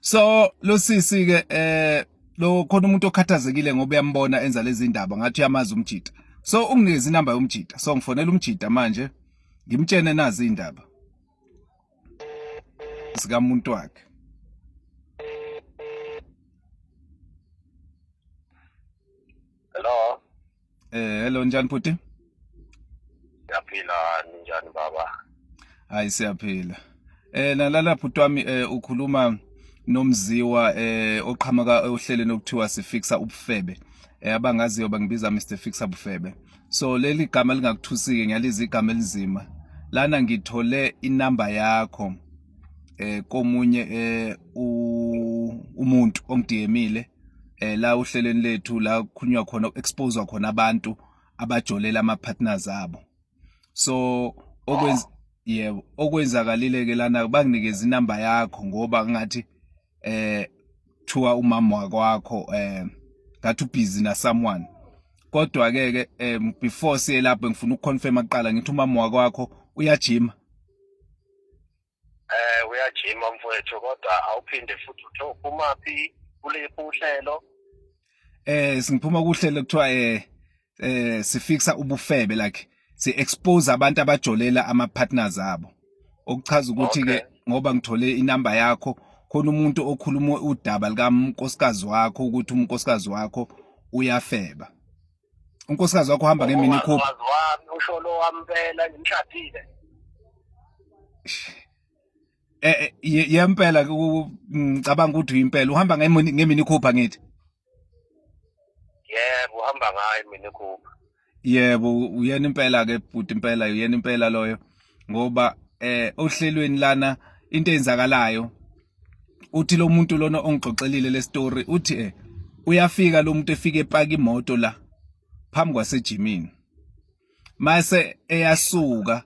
so lo sisi ke eh lo khona umuntu okhathazekile ngoba uyambona enza lezi ndaba ngathi uyamazi umjita so unginikeza inamba yomjita so ngifonela umjita manje ngimtshene nazi indaba sikamuntu wakhe Hello Eh hello njani bhuti? Siyaphila njani baba? Hayi siyaphila. Eh nalala bhuti wami eh ukhuluma nomziwa eh oqhamuka ohlelweni okuthiwa sifixa ubufebe. Eh abangaziyo bangibiza Mr Fixa Bufebe. So leli gama lingakuthusiki ngiyaliza igama elinzima. Lana ngithole inamba yakho eh komunye eh umuntu ongidiyemile eh la uhleleni lethu la kukhulunywa khona expose khona abantu abajolela ama partners abo so okwenza yebo okwenzakalile ke lana banginikeza inamba yakho ngoba ngathi eh kuthiwa umama wakwakho eh ngathi ubhizi na someone kodwa ke ke eh, before siye lapho ngifuna ukuconfirma kuqala ngithi umama wakwakho uyajima eh uyajima mfowethu kodwa awuphinde futhi uthe uphuma phi kuliphi uhlelo eh singiphuma kuhlelo kuthiwa eh eh sifixa ubufebe like si expose abantu abajolela ama partners abo okuchaza ukuthi ke ngoba ngithole inamba yakho khona umuntu okhuluma udaba likankosikazi wakho ukuthi umnkosikazi wakho uyafeba unkosikazi wakho uhamba ngemini coupe wami usho lo wampela ngimshadile eh, eh yempela ngicabanga ukuthi impela uhamba ngemini coupe ngithi yebo uhamba ngayo imini coupe yebo uyena impela ke bhuti impela uyena impela loyo ngoba eh ohlelweni lana into eyenzakalayo uthi lo muntu lona ongixoxelile le story uthi eh uyafika lo muntu efike epaka imoto la phambi kwasejimini mase eyasuka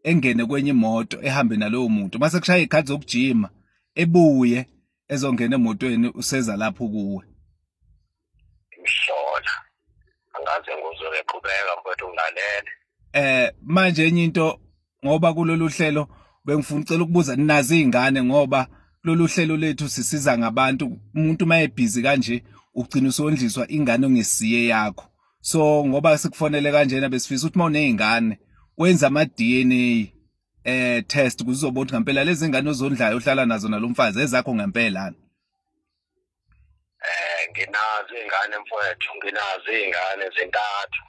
engene kwenye imoto ehambe nalowo muntu mase kushaya ikhadi zokujima ebuye ezongena emotweni useza lapho kuwe ngihlola angaze nguzwe ngeqhubeka mfowethu ngilalele eh manje enye into ngoba kulolu hlelo bengifuna ucela ukubuza ninazi izingane ngoba lolu hlelo lethu sisiza ngabantu umuntu mayebhizi kanje ugcina usondliswa ingane ongesiye yakho so ngoba sikufonele kanjena besifisa ukuthi mawunezingane wenza ama DNA eh test kuzobona ukuthi ngempela lezi ngane ozondlayo ohlala nazo nalomfazi ezakho ngempela eh nginazo ingane mfowethu nginazo ingane zintathu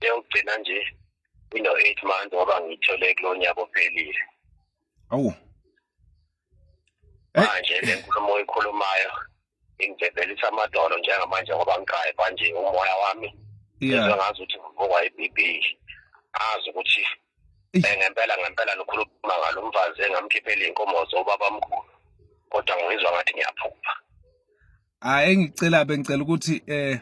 yokugcina nje ino 8 months ngoba ngithole kulonyaka ophelile awu eh. manje le nkulumo oyikhulumayo ingibhebhelisa amadolo njengamanje ngoba ngiqaye manje umoya wami yeah. ngazi ukuthi ngivukwa i-BB azi ukuthi Eh, ngempela ngempela nikhuluma ngalo mfazi engamkhiphela iy'nkomo zobabamkhulu kodwa ngizwa ngathi ngiyaphupha hayi engicela bengicela ukuthi eh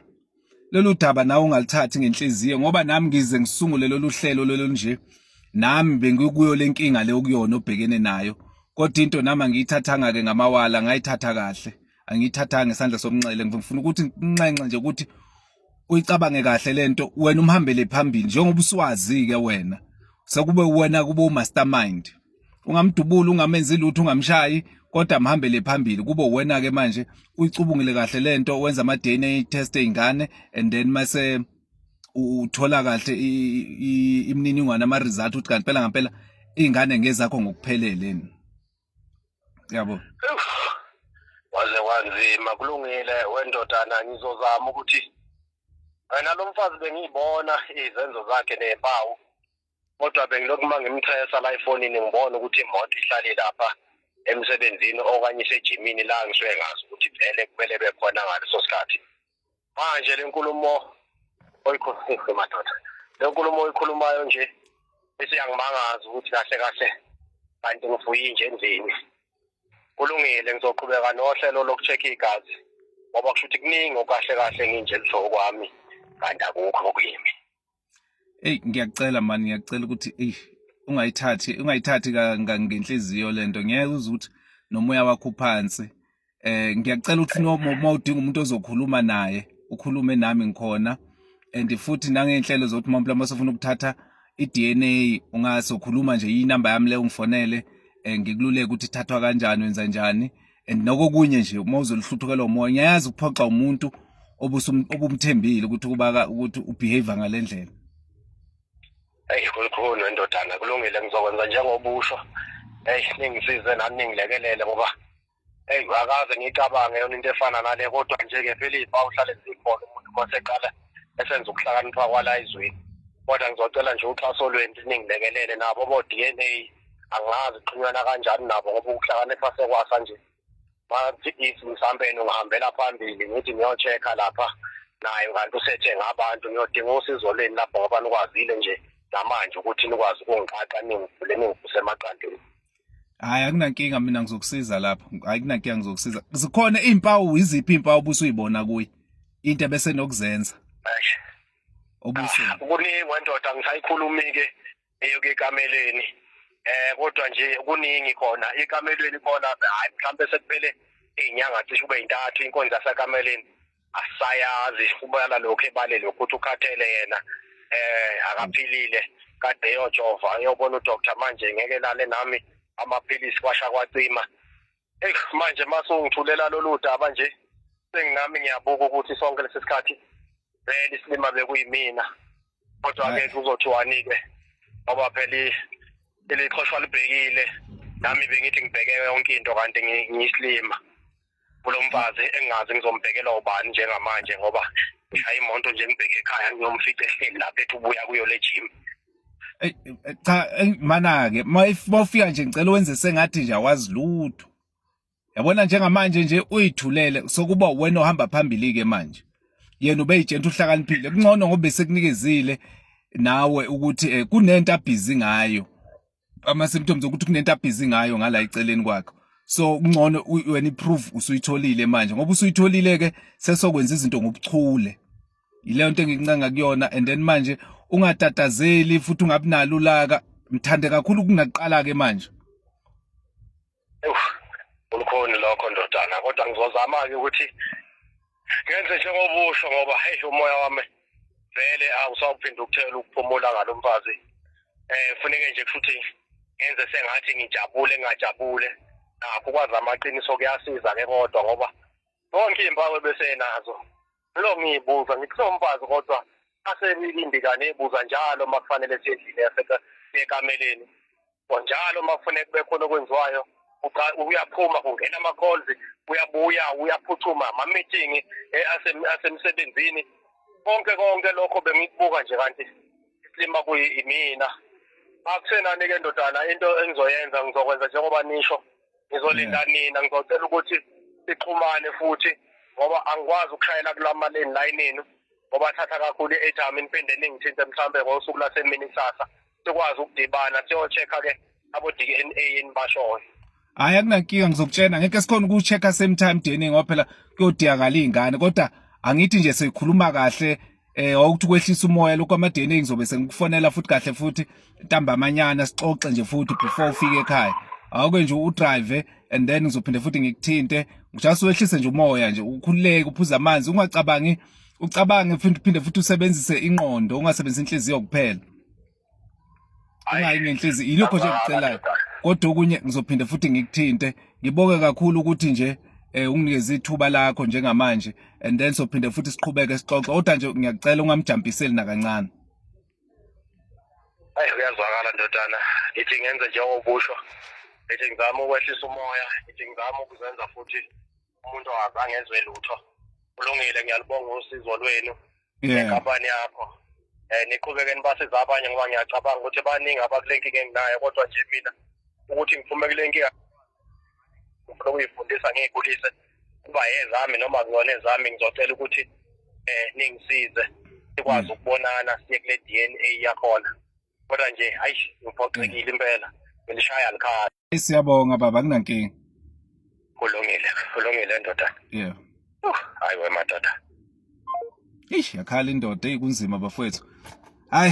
lolu daba nawe ungalithathi ngenhliziyo ngoba nami ngize ngisungule lolu hlelo lolu nje nami bengikuyo le nkinga le okuyona obhekene nayo kodwa into nami angiyithathanga-ke ngamawala ngayithatha kahle angiyithathanga isandla somnxele ngifuna ukuthi nginxenxe nje ukuthi uyicabange kahle lento wena umhambele phambili njengoba uswazi ke wena sekube wena kube umastermind ungamdubula ungamenzi lutho ungamshayi kodwa mhambele phambili kube wena ke manje uyicubungile kahle lento wenza ama DNA test eingane and then mase uthola kahle imininingwane ama result ukuthi kanti phela ngempela ingane ngezakho ngokuphelele yabo waze wanzima kulungile wendodana ngizozama ukuthi wena lo mfazi bengiyibona izenzo zakhe nempawu kodwa bengilokhu uma ngimthesa la efonini ngibona ukuthi imoto ihlale lapha emsebenzini okanye isejimini la ngisuke ngazi ukuthi vele kumele bekhona ngaleso sikhathi manje lenkulumo oyikhuluma madoda lenkulumo oyikhulumayo nje isiyangimangaza ukuthi kahle kahle kanti ngivuyi nje endlini kulungile ngizoqhubeka nohlelo lokuchecka igazi ngoba kusho ukuthi kuningi okahle kahle nginje luhlobo kwami kanti akukho kuyimi eyi ngiyakucela mani ngiyakucela ukuthi eyi ungayithathi ungayithathi ngenhliziyo le nto ngeke uze ukuthi nomoya wakho uphansi eh ngiyacela ukuthi noma udinga umuntu ozokhuluma naye ukhulume nami ngikhona and futhi nangenhlelo zokuthi mampela uma sofuna ukuthatha i-DNA ungasokhuluma nje inamba yami le ungifonele eh, ngikululeke ukuthi ithathwa kanjani wenza njani and nokokunye nje uma uzoluhluthukelwa umoya ngiyazi ukuphoxa umuntu obumthembile ukuthi kubaka ukuthi ubehave ngalendlela eyi kulikhulu endodana kulungile ngizokwenza njengoba usho eyi ningisize nami ningilekelele ngoba eyi akaze ngiyicabange yona into efana nale kodwa nje-ke phela ifa uhlale zikhona umuntu uma seqala esenza ukuhlakanipha kwala izweni kodwa ngizocela nje uxhaso lwenu ningilekelele nabo bo-d n a angazi uxhumana kanjani nabo ngoba ukuhlakanipha sekwasa nje bathi if mhlawumbe ngihambela phambili ngithi ngiyochecka lapha naye kanti usethe ngabantu ngiyodinga usizo leni lapho ngoba nikwazile nje namanje ukuthi nikwazi ukungiqaqa ningivule ningivuse emaqandeni hayi akunankinga mina ngizokusiza lapho akunankinga ngizokusiza zikhona iy'mpawu iziphi iy'mpawu obusuyibona kuye into ebese nokuzenza obuseni ah, kuningi wendoda ngisayikhulumi-ke eyoke ekameleni eh kodwa nje kuningi khona ekamelweni khona hayi mhlambe sekuphele izinyanga cishe ube intathu inkonzo yasekameleni asayazi kubala lokho ebale lokho ukuthi ukhathele yena eh akaphilile kade eyojova eyobona udoctor manje ngeke lale nami amaphilisi kwasha kwacima Eyi manje masungithulela lolu daba nje senginami ngiyabuka ukuthi sonke lesi sikhathi vele isilima bekuyimina kodwa-ke kuzothiwani-ke ngoba phela ilixhoshwa libhekile nami bengithi ngibheke yonke into kanti ngiyisilima kulo mfazi engingazi ngizombhekela ubani njengamanje ngoba ngishaya imoto nje ngibheke ekhaya ngiyomfica ehleli lapha ethi ubuya kuyo le gym Eh, eh, cha eh, mana ke mawufika nje ngicela wenze sengathi nje awazi lutho yabona njengamanje nje uyithulele sokuba wena ohamba phambili ke manje yena ubeyitshenta uhlakaniphile kungcono ngoba sekunikezile nawe ukuthi kunento abhizi ngayo ama symptoms ukuthi kunento abhizi ngayo ngala iceleni kwakhe so kungcono wena iproof usuyitholile manje ngoba usuyitholile ke sesokwenza izinto ngobuchule yileyo nto engincanga kuyona and then manje ungatatazeli futhi ungabinalo ulaka mthande kakhulu kungaqala ke manje ulukhoni lokho ndodana kodwa ngizozama-ke ukuthi ngenze njengobusho ngoba heyi umoya wami vele awusawuphinde ukuthela ukuphumula ngalo mfazi um funeke nje kushuthi ngenze sengathi ngijabule ngingajabule nakho ukwazi amaqiniso kuyasiza-ke kodwa ngoba zonke iy'mpawu ebesenazo lo ngiyibuza ngithi somfazi kodwa aselilindi kane ebuza njalo uma kufanele siyendlini yasekameleni njalo uma kufuneka kube khona okwenziwayo uyaphuma kungena ama-calls uyabuya uyaphuthuma ama-meeting eh, asemsebenzini konke konke lokho bengikubuka nje kanti isilima kuyimina akusenani-ke ndodana into engizoyenza ngizokwenza njengoba nisho ngizolinda yeah. nina ngizocela ukuthi sixhumane futhi ngoba angikwazi ukushayela kulama lane layinini ngoba thatha kakhulu i-airtime niphinde ningithinte mhlawumbe ngosuku lasemini kusasa sikwazi ukudibana siyocheck-a ke abo-d n a enibashoyo hhayi akunankinga ngizokutshena ngeke sikhona ukucheck-a same time dna ngoba phela kuyodiyakala iy'ngane kodwa angithi nje sikhuluma kahle eh wawukuthi kwehlisa umoya lokho amadeni ngizobe sengikufonela futhi kahle futhi ntambamanyana sixoxe nje futhi before ufike ekhaya awuke nje udrive and then ngizophinde futhi ngikuthinte ngijust wehlise nje umoya nje ukhululeke uphuza amanzi ungacabangi ucabange futhi phinde futhi usebenzise inqondo ungasebenzisi inhliziyo kuphela ungayi ngenhliziyo yilokho nje ngicelayo kodwa okunye ngizophinde futhi ngikuthinte ngibonge kakhulu ukuthi nje eh unginikeza ithuba lakho njengamanje and then sophinde futhi siqhubeke sixoxe kodwa nje ngiyakucela ungamjampiseli nakancane ayi uyazwakala ndodana ngithi ngenze njengokusho ngithi ngizama ukwehlisa umoya ngithi ngizama ukuzenza futhi umuntu ongazange ezwe lutho kulungile ngiyalibonga usizo lwenu nenkampani yakho um niqhubeke nibasiza abanye ngoba ngiyacabanga ukuthi baningi abakule nkinga enginayo kodwa nje mina ukuthi ngiphume kule nkinga ngifuna ukuyifundisa ngiyikhulise kuba yezami noma kuyona ezami ngizocela ukuthi um ningisize sikwazi mm. ukubonana siye kule D N A yakhona kodwa nje hayi ngiphoxekile impela ngilishaya likhaya siyabonga baba kunankinga kulungile kulungile ndoda yeah uh, hayi wemadoda eish yakhala indoda eyi kunzima bafowethu hayi